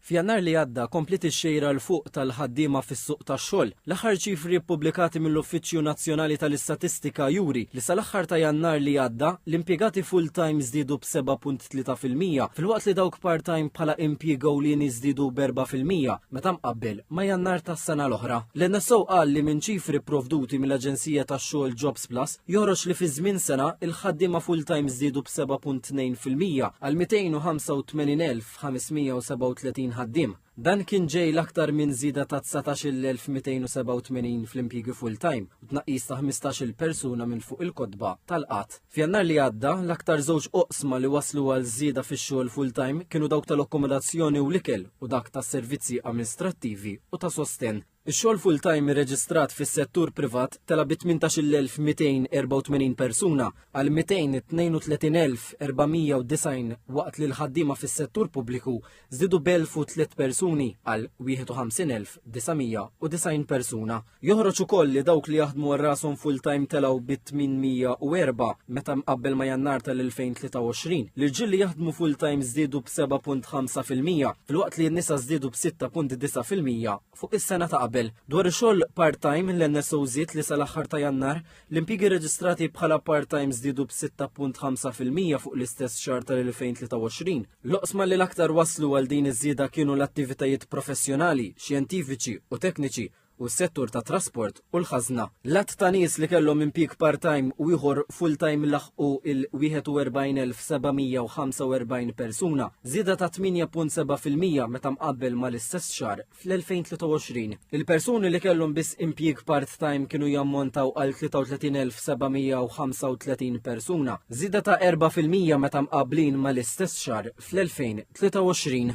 F'Jannar li għadda kompliet ix-xejra 'l fuq tal-ħaddiema fis-suq tax-xogħol. L-aħħar ċifri ppubblikati mill-Uffiċċju Nazzjonali tal-Istatistika juri li sal-aħħar ta' Jannar li għadda, l-impjegati full-time żdiedu b'7.3 fil-mija, filwaqt li dawk part-time bħala impjieg ewlieni żdiedu b'erba' fil-mija meta mqabbel ma' Jannar tas-sena l-oħra. L-NSO qal li minn ċifri pprovduti mill-aġenzija tax-xogħol Jobs, Act Plus joħroġ li fi żmien sena l-ħaddiema full-time żdiedu b'7.2 fil-mija għal 285,537 ħaddiem. Dan kien ġej l-aktar minn żieda ta' 19,287 fl-impjiegi full-time u tnaqqis ta' 15-il persuna minn fuq il-kotba tal-qgħad. F'Jannar li għadda, l-aktar żewġ oqsma li wasslu għal żieda fix-xogħol full-time kienu dawk tal-akkomodazzjoni u l-ikel u dak tas-servizzi amministrattivi u ta' sostenn. Ix-xogħol full-time irreġistrat fis-settur privat tela' bi 18,284 persuna għal 232,490 waqt li l-ħaddiema fis-settur pubbliku żdiedu b'elf u tliet persuni għal 51,990 persuna. Joħroġ ukoll li dawk li jaħdmu għal rashom full-time telgħu bi 804 meta mqabbel ma' Jannar tal-2023. L-irġiel li jaħdmu full-time żdiedu b'7.5 fil-mija. filwaqt li n-nisa żdiedu b'6.9 fil-mija fuq is-sena ta' qabel. Dwar ix-xogħol part-time, l-NSO żied li sal-aħħar ta' Jannar, l-impjiegi reġistrati bħala part-time żdiedu b'6.5 fil-mija fuq l-istess xahar tal-2023. L-oqsma li l-aktar wasslu għal din iż-żieda kienu l-attivitajiet professjonali, xjentifiċi u tekniċi, u s-settur tat-trasport u l-ħażna. L-għadd ta' nies li kellhom impjieg part-time u ieħor full-time laħqu l-41,745 persuna, żieda ta' 8.7 fil-mija meta mqabbel mal-istess xahar fl-2023. Il-persuni li kellhom biss impjieg part-time kienu jammontaw għal 33,735 persuna, żieda ta' erbgħa fil-mija meta mqabblin mal-istess xahar fl-2023.